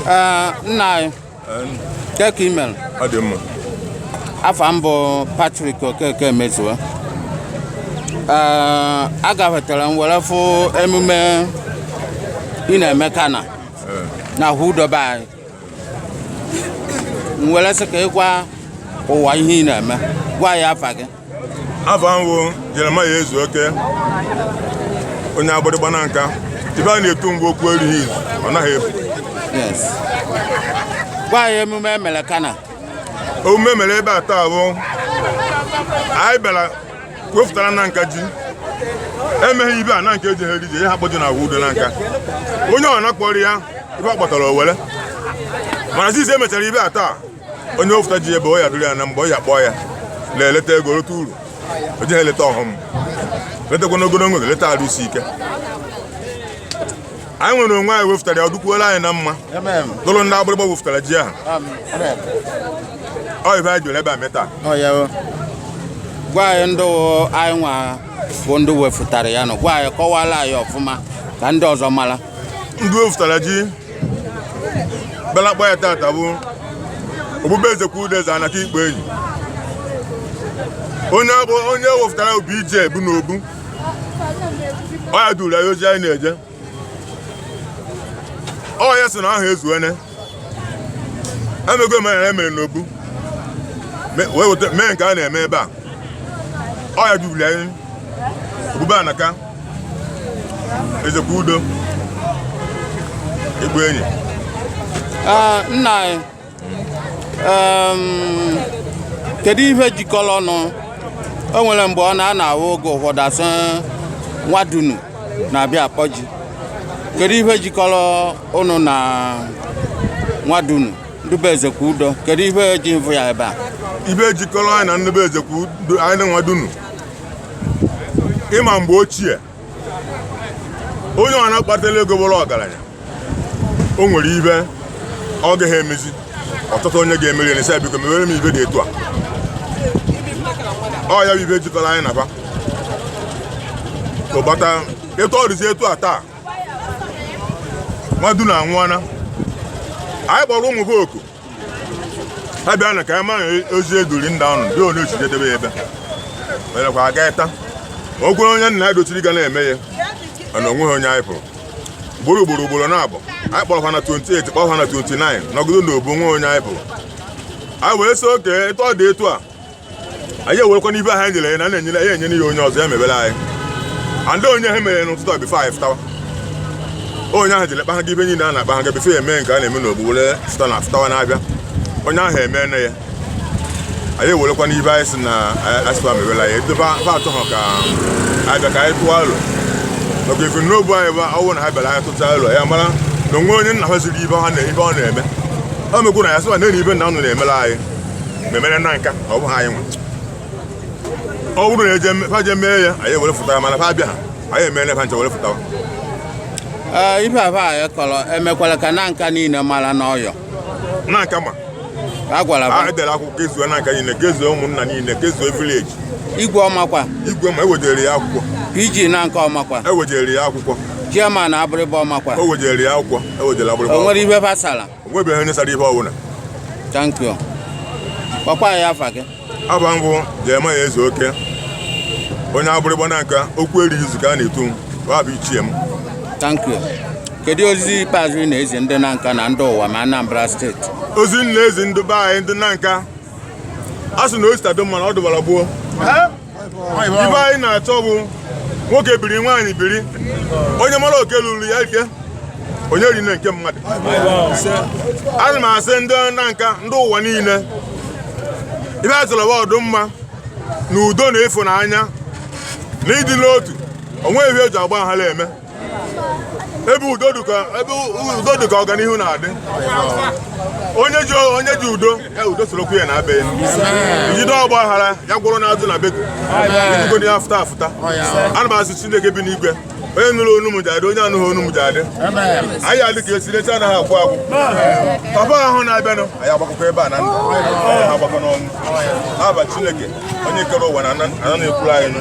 Ee, nna anyị ke ka ị mere ọ dị mma afa m bụ Patrick Okeke Emezuo ee agafetara m were fụ emume ị na-eme kana na Ahọ Udo be anyị m were sị ka ịgwa ụwa ihe ị na-eme gwa ya afa gị afa m wụ Jeremiah Ezeoke onye Agbịrịgba Nanka ibe a na-etu m wụ okwu erighị izu ọ naghị efu yes gwa ya emume emere kana emume e mere ebe a taa bụ anyị bịara wefụtara Nanka ji emeghị ibe a Nanka ejiha eri ji ihe ha kpọ ji na Ahọ Udo Nanka onye ọ na-akpọrọ ya ibe ọ kpatara o were mana zizi emechara ibe a taa onye wefụta ji ebe o ya dụrụ ya na mgbe ọ ya kpọọ ya na-eleta ego leta uru o jiha eleta ọghọm letakwa n'ogologo leta arụ isi ike anyị nwere onwe anyị wefụtara ya ọ dụkwuola anyị na mma dụrụ ndị Agbịrịgba wefụtara ji ahụ ọ ibe anyị jụrụ ebe a meta gwa anyị ndị anyị nwa bụ ndị wefụtara ya nọ gwa anyị kọwara anyị ọfụma ka ndị ọzọ mara ndị wefụtara ji bịara kpọ ya tata bụ obu be Ezekwu Udeze Anaka igbu enyi onye wefụtara obi ije bụ n'obu ọ ya duru anyị ozi anyị na-eje ọ ya sị na ahọ ezuene emego omenala emere n'obu wee weta mee nke a na-eme ebe a ọ ya duru anyị obu be Anaka Ezekwu Udo igbu enyi nna anyị kedu ihe jikọrọ ụnụ o nwere mgbe ọ na-ana awụ oge ụfọdụ a sị Nwadunu na-abịa akpọ ji kedu ihe jikọrọ ụnụ na Nwadunu ndị be Ezekwu Udo kedu ihe ji mvụ ya ebe a ibe jikọrọ anyị na ndị be Ezekwu Udo anyị na Nwadunu ịma mgbe ochie onye ọ na-akpatara ego bụrụ ọgaranya o nwere ibe ọ gaghị emezi ọ chọta onye ga-emere ya na biko mewere m ibe dị etu a ọ ya bụ ibe jikọrọ anyị na ba ụbata etu ọ dịzi etu a taa Nwadunu anwụọna anyị kpọrọ ụmụ ha oku ha bịanụ ka anyị mara ozi eduri ndị ahụ ndị onye ochije debe ya ebe merekwa aga ịta o kwere onye nna ya dochiri ga na-eme ya mana o nweghị onye anyị fụrụ ugboro ugboro ugboro naabọ anyị kpọrọ ha na 28 kpọrọ ha na 29 nọgide na obu o nweghị onye anyị fụrụ anyị wee sị oke etu ọ dị etu a anyị ewerekwana ibe ha nyere ya na na-enyere ya enyere ya onye ọzọ ya mebere anyị ndị onye ha mere n'ụtụtụ a before anyị fụtawa onye ahụ jere kpahaga ibe niile a na-akpa ha ga before ya eme nke a na-eme n'ogbu were fụta na fụtawa na-abịa onye ahụ emee na ya anyị ewerekwana ibe anyị si na asịkwa mebere anyị edobe ha atụ ha ka anyị bịa ka anyị tụọ alo maka ife n'obu anyị bụ ọwụ na ha bịara anyị tụta alo ya mara na onwe onye nna ha ziri ibe ha na ibe ọ na-eme o mekwu na ya sịwa na-eri ibe nna unu na-emere anyị memere Nanka ọ bụghị anyị nwe ọ bụrụ na eje fa je mee ya anyị were fụtara mana fa bịa ha anyị emere fa nche were fụtawa Ee, ife afa anyị kọrọ emekwala ka Nanka niile mara n'ọyọ Nanka ma a gwara anyị dere akwụkwọ kezuo Nanka niile kezuo ụmụnna niile kezuo village igwe ọ makwa igwe ma ewejere ya akwụkwọ PG Nanka ọ makwa ewejere ya akwụkwọ chairman Agbịrịgba ọ makwa o wejere ya akwụkwọ ewejere Agbịrịgba o nwere ife fa sara o nwebeghị onye sara ihe ọbụla thank you kpọkwaa afa gị aba m bụ Jeremiah Ezeoke onye Agbịrịgba Nanka okwu erighị izu ka a na-etu m ọ bụ ichie m thank you kedu ozi ikpeazụ ị na-ezi ndị Nanka na ndị ụwa ma Anambra State ozi m na-ezi ndị be anyị ndị Nanka a sị na o si taa dị mma na ọ dụbara gboo ibe anyị na-achọ bụ nwoke biri nwaanyị biri onye mara oke ruru ya aka onye erine nke mmadụ ana m asị ndị Nanka ndị ụwa niile ibe a chọrọ bụ ọdụmma na udo na ịfụnanya na ịdị n'otu o nwe ihe e ji ọgba aghara eme ebe udo dị ka ebe udo dị ka ọganihu na-adị onye ji onye ji udo ya udo sorokwu ya na be jide ọgba aghara ya gwụrụ na azụ na beko ibugo ya afụta afụta ana m asị Chineke bi n'igwe onye nụrụ onu m ja-adị onye anụghị onu m ja-adị anyị adị ka echi na echi anaghị agwụ agwụ papa ahụ na-abịanụ anyị agbakọkọ ebe a na ndụ ha agbakọ n'ọnwụ n'aba Chineke onye kere ụwa na ana na-ekwuru anyị nụ